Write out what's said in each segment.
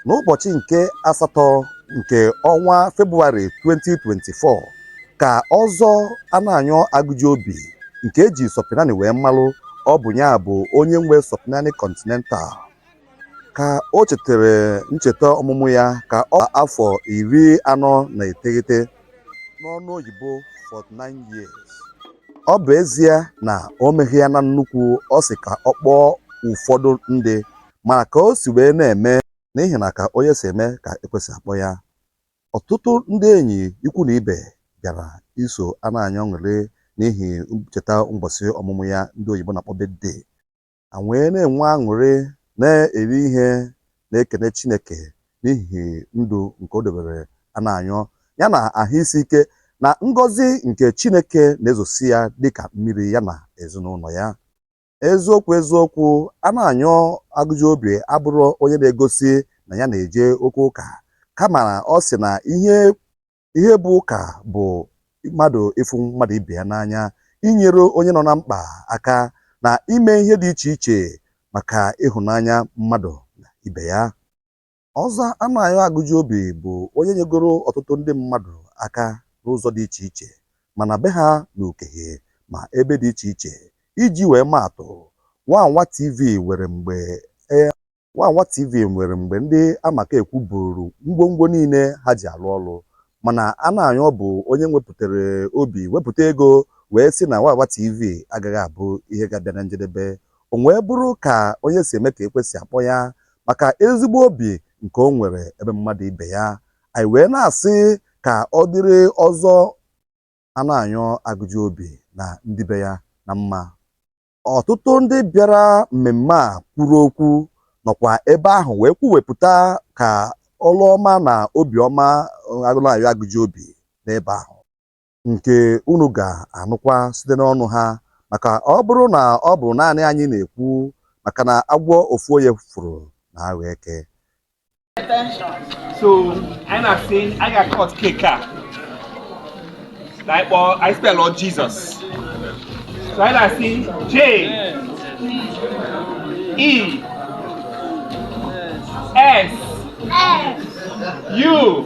n'ụbọchị nke asatọ nke ọnwa Febụwarị 2024 ka Ọzọ Anayo Agụjiobi nke e ji Sọpịnanị wee malụ ọ bụ ya bụ onye nwe Sọpịnanị Continental ka o chetara ncheta ọmụmụ ya ka ọ afọ iri anọ na iteghete n'ọnụ oyibo 49 years ọ bụ ezie na o meghị ya na nnukwu ọ sị ka ọ kpọọ ụfọdụ ndị mana ka o si wee na-eme n'ihi na ka onye si eme ka ekwe si akpọ ya ọtụtụ ndị enyi ikwu na ibe bịara iso Anayo ṅụrịa n'ihi ncheta mbọsị ọmụmụ ya ndị oyibo na-akpọ birthday ha wee na-enwe aṅụrị na-eri ihe na-ekene Chineke n'ihi ndụ nke o debere Anayo ya na ahụ isi ike na ngọzi nke Chineke na-ezosi ya dịka mmiri ya na ezinụlọ ya eziokwu eziokwu Anayo Agụjiobi abụrọ onye na-egosi na ya na-eje oke ụka kama ọ sị na ihe Ihe bụ ụka bụ mmadụ ịfụ mmadụ ibe ya n'anya, inyere onye nọ na mkpa aka, na ime ihe dị iche iche maka ịhụnanya mmadụ na ibe ya. Ọzọ Anayo Agụjiobi bụ onye nyegoro ọtụtụ ndị mmadụ aka n'ụzọ dị iche iche, ma na be ha n'Ukehe ma ebe dị iche iche. Iji wee maa atụ, Wawa TV nwere mgbe e. Wawa TV nwere mgbe ndị amakaekwu buuru ngwongwo niile ha ji alụ ọrụ mana Anayo bụ onye nwepụtara obi wepụta ego wee sị na Wawa TV agaghị abụ ihe ga-abịa na njedebe. O wee bụrụ ka onye si eme ka ekwe si akpọ ya maka ezigbo obi nke o nwere ebe mmadụ ibe ya. Anyị wee na-asị ka ọ dịrị Ọzọ Anayo Agụjiobi na ndị be ya na mma. ọtụtụ ndị bịara mmemme a kwuru okwu nọkwa ebe ahụ wee kwuwepụta ka ọrụ ọma na obiọma Anayo Agụjiobi n'ebe ahụ nke unu ga-anụkwa site n'ọnụ ha maka ọ bụrụ na ọ bụ naanị anyị na-ekwu maka na agwọ ofu onye fụrụ na-aghọ eke so anyị na-asị anyị ga-acut cake a na anyị kpọọ anyị spellụ Jesus so anyị na-asị J E S U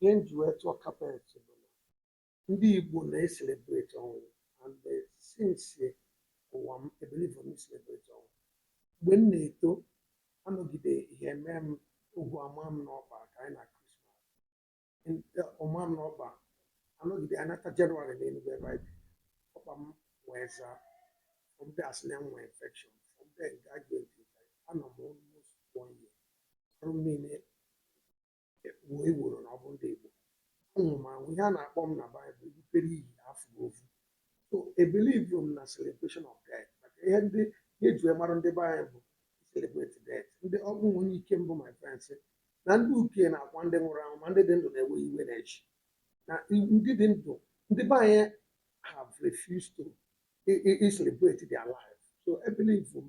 ihe m ji wee tụọ kapet bụ na ndị Igbo na-eselebreti ọnwụ and since ụwa m ebelivu m n'iselebreti ọnwụ mgbe m na-eto anọgide ihe mee m ogwu amaa m n'ọkpa ka anyị na Krismas ọ maa m n'ọkpa anọgide anata jenụwarị na Enugwu ebe anyị bi ọkpa m wee zaa from there a sị na m nwee infection from there nke a ga-eti anọ m almost one year arụ m niile ekpuo eworo na ọ bụ ndị Igbo anwụrụ m anwụ ihe a na-akpọ m na Baịbụl ibupere iyi afọ ofu so ebelivu m na celebration of death maka ihe ndị ihe e ji mara ndị be anyị bụ celebrate death ndị ọ bụ onye ike mbụ my friends na ndị uke na-akwa ndị nwụrụ anwụ ma ndị dị ndụ na-ewe iwe na-eche na ndị dị ndụ ndị be anyị have refused to celebrate their life so ebelivu m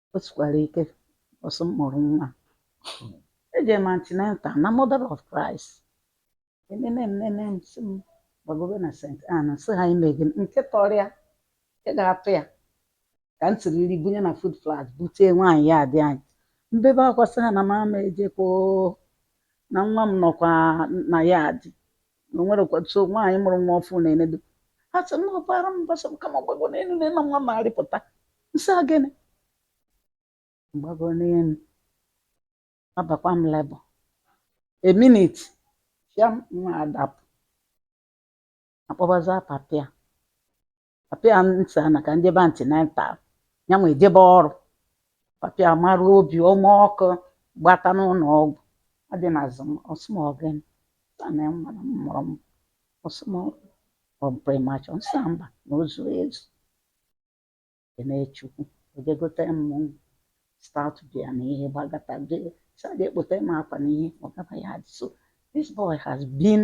o sikwara ike mbọsị m mụrụ nwa eje m antenatal na Mother of Christ enene m nene m sị m gbagobe na St. Ann sị ha imeghị m nke tọrọ ya nke ga-atụ ya ka m siri nri bunye na food flask bute nwaanyị yard anyị m bebe akwa sị ha na m ama ejekwa oo, na nwa m nọkwa na yard na o nwerekwa nwaanyị mụrụ nwa ọfụụ na-enedo ha sị na ọbara m basa ka m gbago n'elu na ịna nwa na-arịpụta m sị ya gịnị m gbago n'elu abakwa m labour a minute ya nwa adapụ a kpọbazia papa ya papa ya m sị ya na ka m jebe antenatal ya nwa jebe ọrụ papa ya mara obi ọma ọkụ gbata n'ụnọ ọgwụ adị na azụ m ọ sị m ọ gịnị m sị ya na nwa na m mụrụ m ọ sị m ọ premature m sị ya mba na o zu ezu kene Chukwu o je gote m stout bia na ihe gbagata je sa je kpote m akwa na ihe ọ gaba ya dị so this boy has been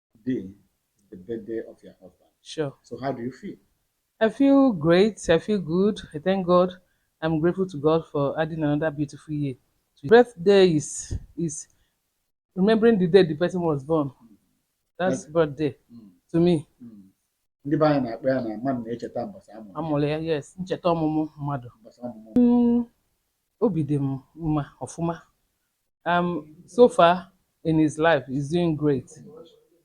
day is the birthday of your husband. Sure. So how do you feel? I feel great. I feel good. I thank God. I'm grateful to God for adding another beautiful year. To birthday is is remembering the day the person was born. That's Like- birthday Mm. to me. Mm. Ndị be anyị na-akpọ ya na mmadụ na-echeta mbọsị a mụrụ ya, A mụrụ ya yes ncheta ọmụmụ mmadụ. mbọsị ọmụmụ. Mm, Obi dị m mma ọfụma. Um, so far in his life, he's doing great.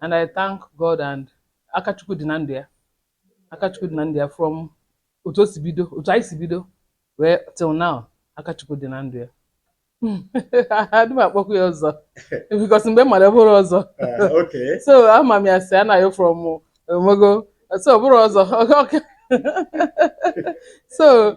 And I thank God and aka Chukwu dị na ndụ ya. Aka Chukwu dị na ndụ ya from otu o si bido, otu anyị si bido, wee till now, aka Chukwu dị na ndụ ya. Adị m akpọkwa ya ọzọ because mgbe m mara ya ọ bụrọ ọzọ. Uh, okay. So ama m ya as Anayo from Omogo. So ọ bụrụ ọzọ. so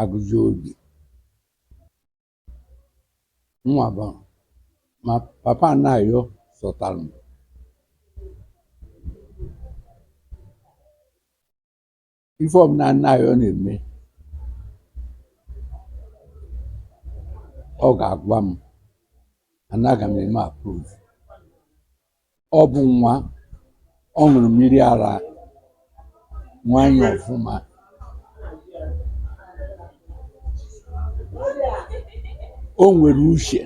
agujiobi nwa bụ ma papa anayo sọtara m ife ọbụla anayo na-eme ọ ga-agwa m anaghị m eme approve Ọ bụ nwa, ọ ṅụrụ mmiri ara nwanyị ọfụma. O nwere uche,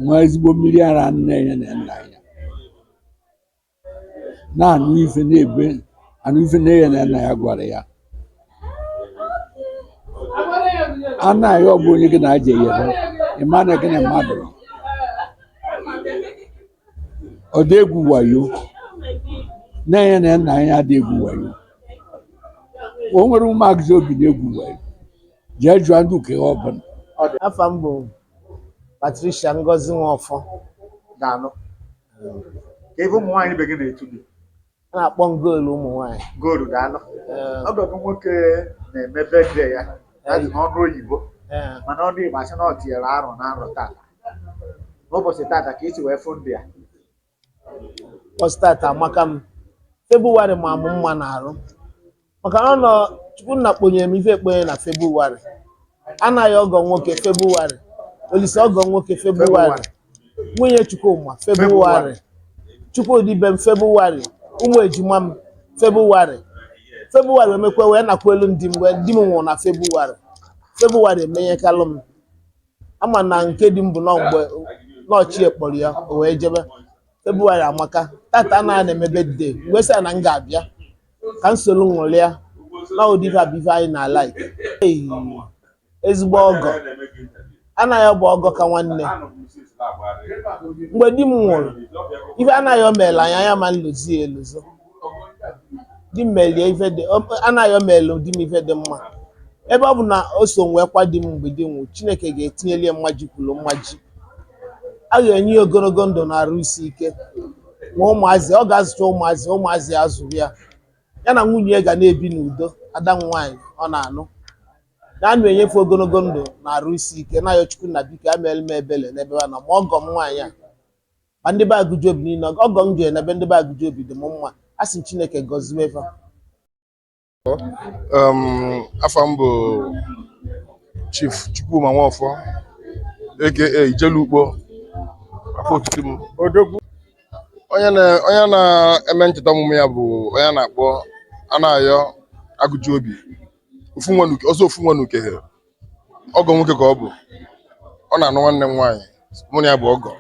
ṅụa ezigbo mmiri ara nne ya na nna ya. na-anụ ife na-anụ ife nne ya na nna ya gwara ya anayo bụ onye gị na ya ja-eyi ị ma na gị na mmadụ nọ. ọ dị egwu wayo nne ya na nna ya adị egwu wayo o nwere ụmụ agujiobi na-egwu wayo jee jụọ ndị uke ọ bụla afa m bụ patricia ngozi nwafọ daalụ ka ife ụmụ nwaanyị ibe gị na-etu gị a na-akpọ m goolu ụmụ nwaanyị goolu daalụ Ee, ọgọ gị nwoke na-eme birthday ya adị n'ọnụ oyibo ee, mana ọnụ igbo a sị na ọ tinyere arọ n'arọ tata n'ụbọchị tata ka i si wee fụ ndị a ụbọchị tata amaka m febụwarị ma mụ mma n'arụ maka na ọ nọ chukwu nna kponyere m ife ekponye na febụwarị anayo ọgọ nwoke febụwarị olisa ọgọ nwoke febụwarị nwunye chukwuma febụwarị chukwudi be m febụwarị ụmụ ejima m febụwarị febụwarị emekwa wee nakwalụ m di m wee di m nwụrụ na febụwarị febụwarị emenyekalụ m a ma na nke di m bụ nọ mgbe nna ochie kpọrọ ya o wee jebe febụwarị amaka tata anayo na-eme birthday m wee sị ya na m ga-abịa ka m soro ṅụrịa na ụdị ife a bụ ife anyị na-like Ei, ezigbo ọgọ anayo bụ ọgọ ka nwanne mgbe di m nwụrụ ife anayo meelu anyị anyị ama nlozi ya elozo di m melie ife dị ọ- anayo meelu di m ife dị mma ebe ọ bụ na o so wee kwaa di m mgbe di nwụ chineke ga-etinyeli ya mmaji kwuru mmaji a ga-enye ya ogologo ndụ na arụ isi ike ma ụmụazị ọ ga-azụcha ụmụazị ụmụazị ya azụrụ ya ya na nwunye ya ga na-ebi n'udo ada m nwaanyị ọ na-anụ na anụ enye fa ogologo ndụ na arụ isi ike na-ayọ chukwu na biko ya meere m ebele n'ebe ha nọ ma ọgọ m nwaanyị a ma ndị be agụjiobi niile ọgọ m jere n'ebe ndị be agụjiobi dị m mma a sị chineke gọzie fa um, afa m bụ chief chukwuma nwaọfọ aka ijele ukpo afa otutu m odogwu onye na-eme ncheta ọmụmụ ya bụ onye a na-akpọ anayọ agụjiobi ọzọ ofu nwa n'ukehe ọgọ nwoke ka ọ bụ ọ na-anụ nwanne m nwaanyị mụ na ya bụ ọgọ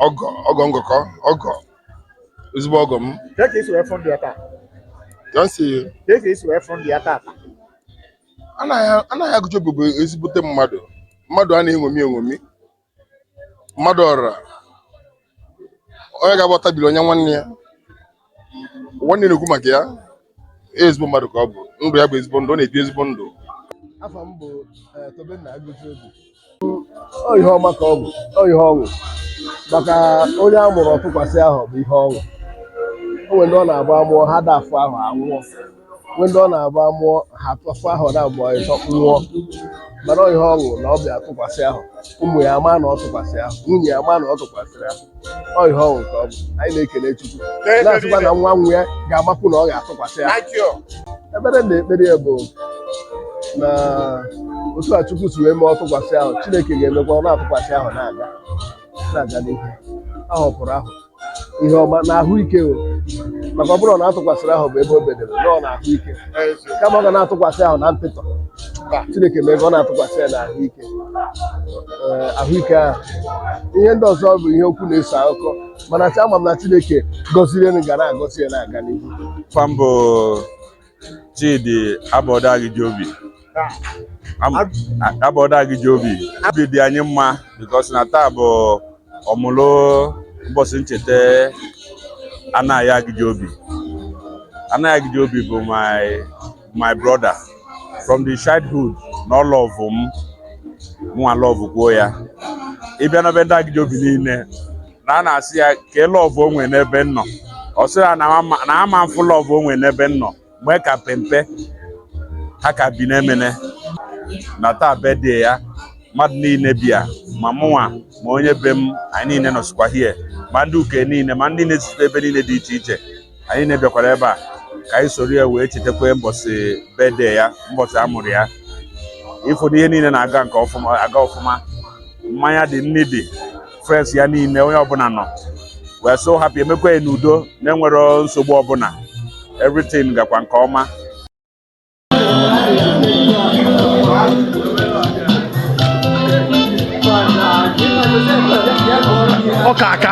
ọgọ ọgọ ngọkọ ọgọ ezigbo ọgọ m Ka ka esi wee fụ ndụ ya taa? ka m si anayọ anayọ agụjiobi bụ ezigbote mmadụ mmadụ a na-eṅomi eṅomi mmadụ ọra onye ga-agbata biri onye nwanne ya nwanne na-ekwu maka ya ezigbo mmadụ ka ọ bụ ndụ ya bụ ezigbo ndụ ọ na-ebi ezigbo ndụ afa m bụ eh, Tobenna Agụjiobi ọ ihe ọma ka ọ bụ ọ ihe ọṅụ maka onye a mụrụ ọ tụkwasị ahọ bụ ihe ọṅụ o nwere ndị ọ na-abụ a mụọ ha dafụ ahụ anwụọ nwee ndị ọ na-abụ a mụọ ha atụfụ ahọ na mgbe ọzọ nwụọ mana ọ ihe ọṅụ na ọ bịa tụkwasị ahọ ụmụ ya ama na ọ tụkwasị ahọ nwunye ya ama na ọ tụkwasịrị ahọ ọ ihe ọṅụ ka ọ bụ anyị na-ekele Chukwu na-asịkwa na nwa nwa ya ga-amapụ na ọ ga-atụkwasị ahọ ekpere m na-ekpere ya bụ na otu a Chukwu si wee mee ọ tụkwasị ahọ Chineke ga-emekwa ọ na-atụkwasị ahọ na-aga na-aga n'ihu ahọ kwuru ahọ ihe ọma na ahụike o maka ọ bụrụ na a tụkwasịrị ahọ bụ ebe o bedere nọọ na ahụike kama ọ ga na-atụkwasị ahọ na ntịtọ chineke mee ka ọ na-atụkwasị ya na ahụike Ee, ahụike ahụ ihe ndị ọzọ bụ ihe okwu na-eso akụkọ mana ama m na chineke gọziri ya nụ ga na-agọzi ya na-aga n'ihu Afa m bụ Chidi abọda agụjiobi abọda agụjiobi obi dị anyị mma because na taa bụ ọmụlụ ụbọchị ncheta anayọ agụjiobi anayọ agụjiobi bụ my my brother from the childhood na ọ lọvụ m mụnwa lọvụkwuo ya ị bịa na be ndị agụjiobi niile na a na-asị ya ka e lọvụ onwe n'ebe nnọ ọ sị ya na ama- na ama mfụ lọvụ onwe n'ebe nnọ mgbe ka pempe ha ka bi n'emene na taa birthday ya mmadụ niile bịa ma mụnwa ma onye be m anyị niile nọsịkwa hie ma ndị ukehe niile ma ndị na-esite ebe niile dị iche iche anyị niile bịakwara ebe a ka anyị soro ya wee chetakwa mbọsị birthday ya mbọsị a mụrụ ya ị fụ na ihe niile na-aga nke ọfụma aga ọfụma mmanya dị nri dị friends ya niile onye ọbụla nọ wee so happy e mekwa ya n'udo na enwerọ nsogbu ọbụla everything gakwa nke ọma ọka aka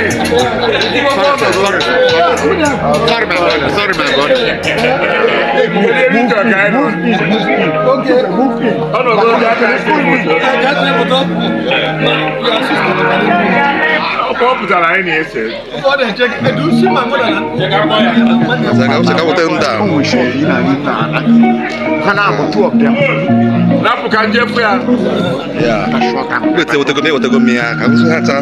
ọ pụtara anyị na-ese rapụ ka njefe ya wetego m ya ka ha taa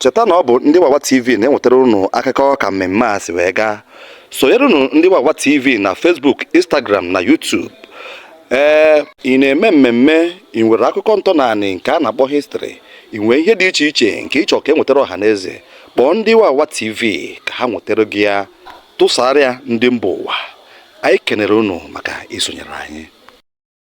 cheta na ọ bụ ndị Wawa TV na-enwetara unu akụkọ ka mmemme a si wee gaa sonyere unu ndị Wawa TV na facebook instagram na youtube ee ị na-eme mmemme ị nwere akụkọ ntọnanị nke a na-akpọ history ị nwee ihe dị iche iche nke ị chọ ka e nwetara ọha na eze kpọọ ndị Wawa TV ka ha nwetara gị ya tụsaara ya ndị mba ụwa anyị kenere unu maka isonyere anyị